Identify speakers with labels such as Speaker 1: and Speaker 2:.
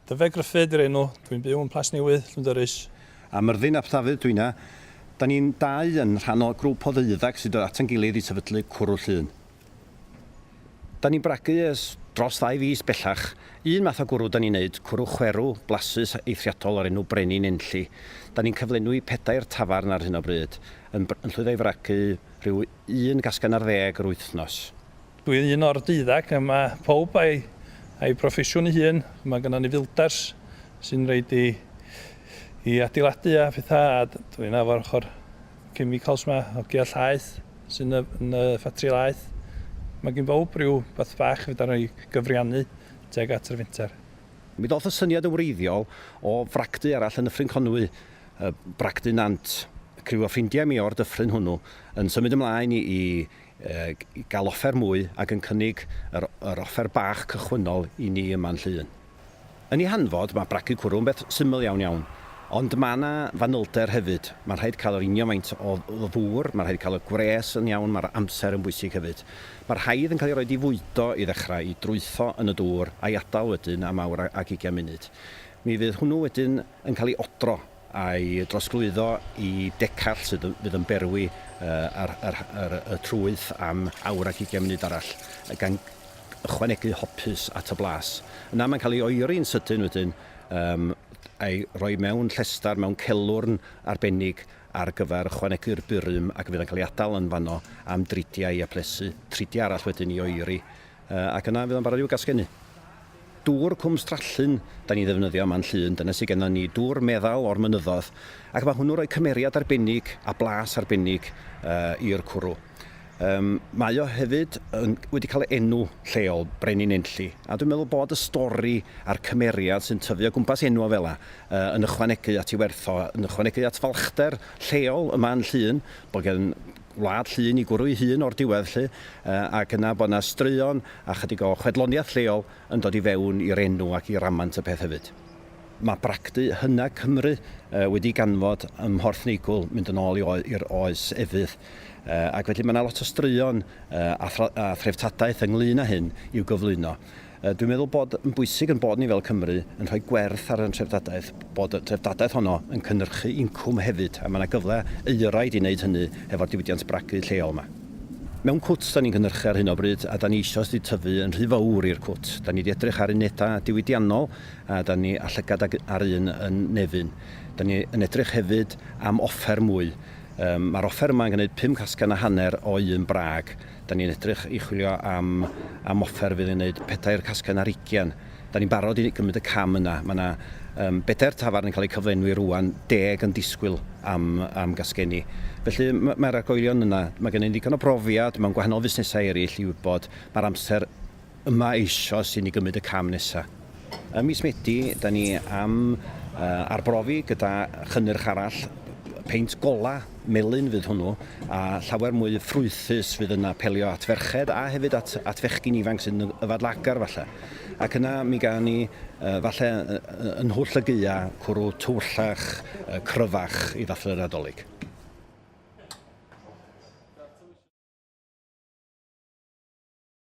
Speaker 1: Dyfed Gruffydd yw'r enw, dwi'n byw yn Plas Newydd, Llwndyrys. A Myrddin ap Dafydd dwi inna. Da ni'n dau yn rhan o grwp o ddeuddag sy'n dod ata'n gilydd i sefydlu Cwrw Llŷn. Da ni'n bragu ers dros ddau fis bellach. Un math o gwrw da ni'n neud, cwrw chwerw, blasus, eithriadol o'r enw Brenin Enlli. Da ni'n cyflenwi pedair tafarn ar hyn o bryd, yn llwyddo i fragu rhyw un gasgen ar ddeg yr wythnos. Dwi un o'r deuddag, a mae pawb a'i a'i broffesiwn ei hun. Mae gynnon ni fildars sy'n roid i i adeiladu a phetha, a d- dwi 'na efo'r ochr chemicals 'ma, hogia llaeth sy'n y yn y ffatri laeth. Mae gin bawb ryw beth bach fedar ni gyfriannu tuag at yr fenter. Mi ddoth y syniad yn wreiddiol o fragdy arall yn Nyffryn Conwy, yy bragdy Nant. Criw o ffrindiau mi o'r dyffryn hwnnw yn symud ymlaen i i gael offer mwy ac yn cynnig yr yr offer bach cychwynnol i ni yma'n Llŷn. Yn ei hanfod, mae bragu cwrw yn beth syml iawn iawn, ond mae yna fanylder hefyd, mae'n rhaid cael yr union faint o o ddŵr, mae'n rhaid cael y gwres yn iawn, mae'r amser yn bwysig hefyd. Mae'r haidd yn cael ei roid i fwydo i ddechrau, i drwytho yn y dŵr, a'i adael wedyn am awr ag ugain munud. Mi fydd hwnnw wedyn yn cael ei odro. a'i drosglwyddo i decall sydd yn fydd yn berwi yr yr yr y trwyth am awr ac ugain munud arall gan ychwanegu hopys at y blas. Yna mae'n cael ei oeri'n sydyn wedyn yym a'i roi mewn llestar mewn celwrn arbennig ar gyfer ychwanegu'r burum ac fydd yn cael ei adal yn fanno am dridiau a plesu tridiau arall wedyn i oeri ac yna fydd o'n barod i'w gasgenu. Dŵr Cwm Strallyn 'dan ni'n ddefnyddio yma yn Llŷn, dyna sy gennon ni, dŵr meddal o'r mynyddoedd, ac mae hwnnw'n rhoi cymeriad arbennig a blas arbennig i'r cwrw. Yym mae o hefyd yn wedi cael ei enw lleol, Brenin Enlli, a dwi'n meddwl bod y stori a'r cymeriad sy'n tyfu o gwmpas enw fel fela yn ychwanegu at ei werth o, yn ychwanegu at falchder lleol yma yn Llŷn, bod gen wlad Llŷn i gwrw ei hun o'r diwedd 'lly, ac yna bod 'na straeon a chydig o chwedloniaeth lleol yn dod i fewn i'r enw ac i ramant y peth hefyd. Mae bragdy hyna Cymru wedi ganfod ym Mhorth Neigwl mynd yn ôl i'r oes efydd, ac felly mae 'na lot o straeon a threftadaeth ynglŷn â hyn i'w gyflwyno. Dwi'n meddwl bod yn bwysig ein bod ni fel Cymru yn rhoi gwerth ar ein treftadaeth, bod y treftadaeth honno yn cynhyrchu incwm hefyd, a mae yna gyfle euraid i wneud hynny hefo'r diwydiant bragu lleol yma. Mewn cwt dan ni'n cynhyrchu ar hyn o bryd a dan ni eisoes wedi tyfu yn rhy fawr i'r cwt. Dan ni wedi edrych ar unedau diwydiannol a dan ni â llygad ag ar un yn Nefyn. Dan ni yn edrych hefyd am offer mwy. Mae'r offer yma yn gwneud pum casgen a hanner o un brag. Dan ni'n edrych i chwilio am am offer fydd yn wneud pedair casgen ar ugain. Dan ni'n barod i gymryd y cam yna. Mae yna um, bedair tafarn yn cael eu cyflenwi rwan, deg yn disgwyl am, am gasgeni. Felly mae'r ma argoelion yna. Mae gennym ddigon o brofiad mewn gwahanol fusnesau eraill i wybod mae'r amser yma eisoes i ni gymryd y cam nesaf. Ym mis Medi, da ni am arbrofi gyda chynnyrch arall, peint golau melyn fydd hwnnw, a llawer mwy ffrwythus fydd yn apelio at ferched a hefyd at, at fechgyn ifanc sy'n yfadlagar falle. Ac yna mi gael ni uh, falle yn hwll y gyia cwrw tywyllach, uh, cryfach i ddathlu yr adolyg.